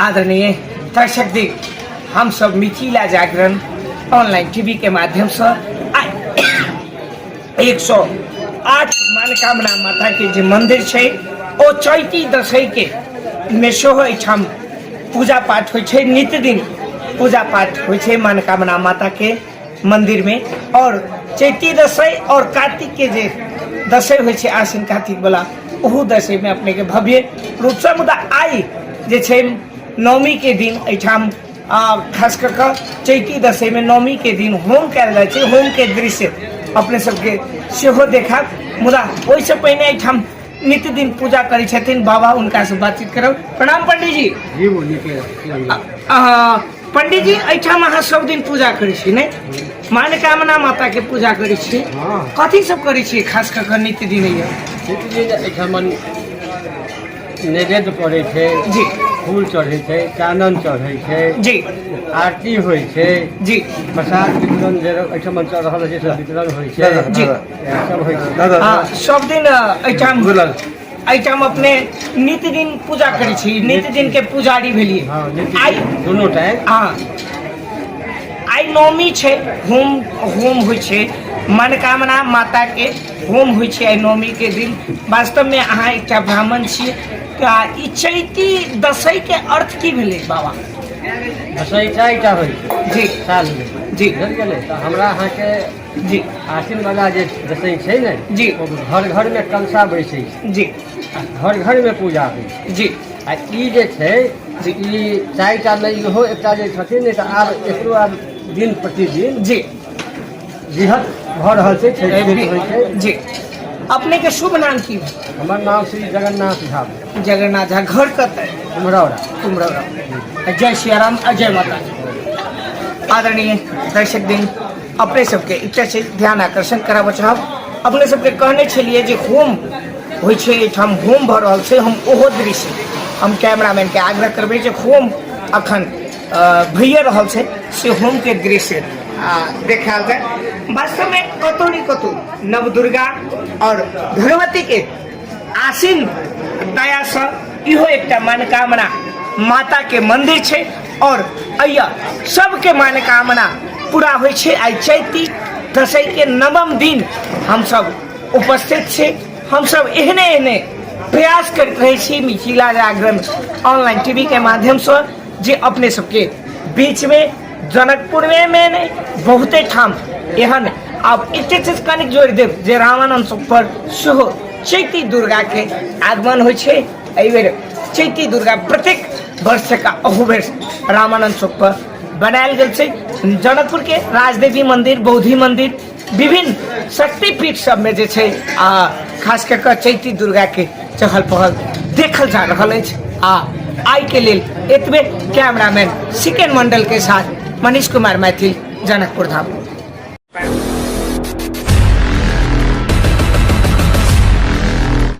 आदरणीय दर्शक दी हम सब मिथिला जागरण ऑनलाइन टीवी के माध्यम से एक सौ आठ मनोकामना माता के जो मंदिर है ओ चैती दसई के में सेहो एहिठाम पूजा पाठ होइ छै नित्य दिन पूजा पाठ होइ छै मनोकामना माता के मंदिर में और चैती दशई और कार्तिक के जे दशई होइ छै आश्विन कार्तिक वाला ओहू दशई में अपने के भव्य रूप से मुदा आई जे छै नवमी के दिन एठाम आ, खास कर के चैती दशई में नवमी के दिन होम कयल जाइ छै होम के दृश्य अपने सबके सेहो देखत मुदा ओहिसँ पहिने एठाम नित्य दिन पूजा करै छथिन बाबा हुनकासँ बातचीत करब प्रणाम पंडीजी जी बोलिए क्या- क्या- अहाँ पंडित जी एहिठाम अहाँ सब दिन पूजा करै छी ने मनोकामना माता के पूजा करै छी हाँ। कथी सब करै छी खास कऽ कऽ नित्य दिन यऽ नित्य दिन एहिठाम नैवेद्य पड़ै छै जी फूल चढ़ै छै चानन चढ़ै छै जी आरती होइ छै जी प्रसाद वितरण जे एहिठाम चल रहल छै से वितरण होइ छै जी सब होइ छै सब दिन एहिठाम एहिठाम अपने नित दिन पूजा करै छी नित दिन के पुजारी भेलिए हाँ, आई दोनों टाइम हाँ आई नौमी छे होम होम हो छे मनोकामना माता के होम हो छे आई नौमी के दिन वास्तव में अहाँ एक ब्राह्मण छी ई चैती दसई के अर्थ की भेले बाबा दसई चारिटा होई जी साल में जी हमरा अहाँ के जी आसिन बाबा जे जसै छै ने जी ओ घर घर में कलशा बैसै छै जी आ घर घर में पूजा होइ छै जी आ ई जे छै जी। ई चारि टा नहि इहो एकटा जे छथिन ने तऽ आब एकरो आब दिन प्रतिदिन जी बृहत भऽ रहल छै छै छै होइ छै जी अपने के शुभ नाम की भेल? हमर नाम श्री जगन्नाथ झा भेल, जगन्नाथ झा घर कतऽ कुम्हरौरा कुमरौरा जय सिया राम आ जय माता दी। आदरणीय दर्शक दिन अपने सबके एकटा छै ध्यान आकर्षण कराबऽ चाहब अपने सबके कहने छलिए जे होम होइ छै एहिठाम होम भऽ रहल छै हम ओहो दृश्य हम कैमरामैनके आग्रह करबै जे होम अखन भैये रहल छै से होमके दृश्य देखायल जाय वास्तवमे कतौ ने कतौ नवदुर्गा आओर भगवतीके आसिन दयासँ इहो एकटा मनकामना माताके मन्दिर छै आओर अइया सबके मनकामना पूरा होइ छै आइ चैती दसैके नवम दिन हमसब उपस्थित छी हमसब एहने एहने प्रयास करैत रहै छी मिथिला जागरण ऑनलाइन टीवीके माध्यमसँ जे अपने सबके बीचमे जनकपुरमे मे नहि बहुते ठाम एहन आब एकटे चीज कनिक जोड़ि देब जे रामानन्द पर सेहो चैती दुर्गाके आगमन होइ छै एहिबेर चैती दुर्गा प्रत्येक वर्षका अहुबेर रामानन्द चौकपर बनायल गेल छै जनकपुरके राजदेवी मन्दिर बौद्धि मन्दिर विभिन्न शक्तिपीठ सबमे जे छै आ खास कऽ कऽ चैती दुर्गाके चहल पहल देखल जा रहल अछि आ आइके लेल एतबे कैमरामैन सिकेन मण्डलके साथ मनीष कुमार मैथिल जनकपुर धाम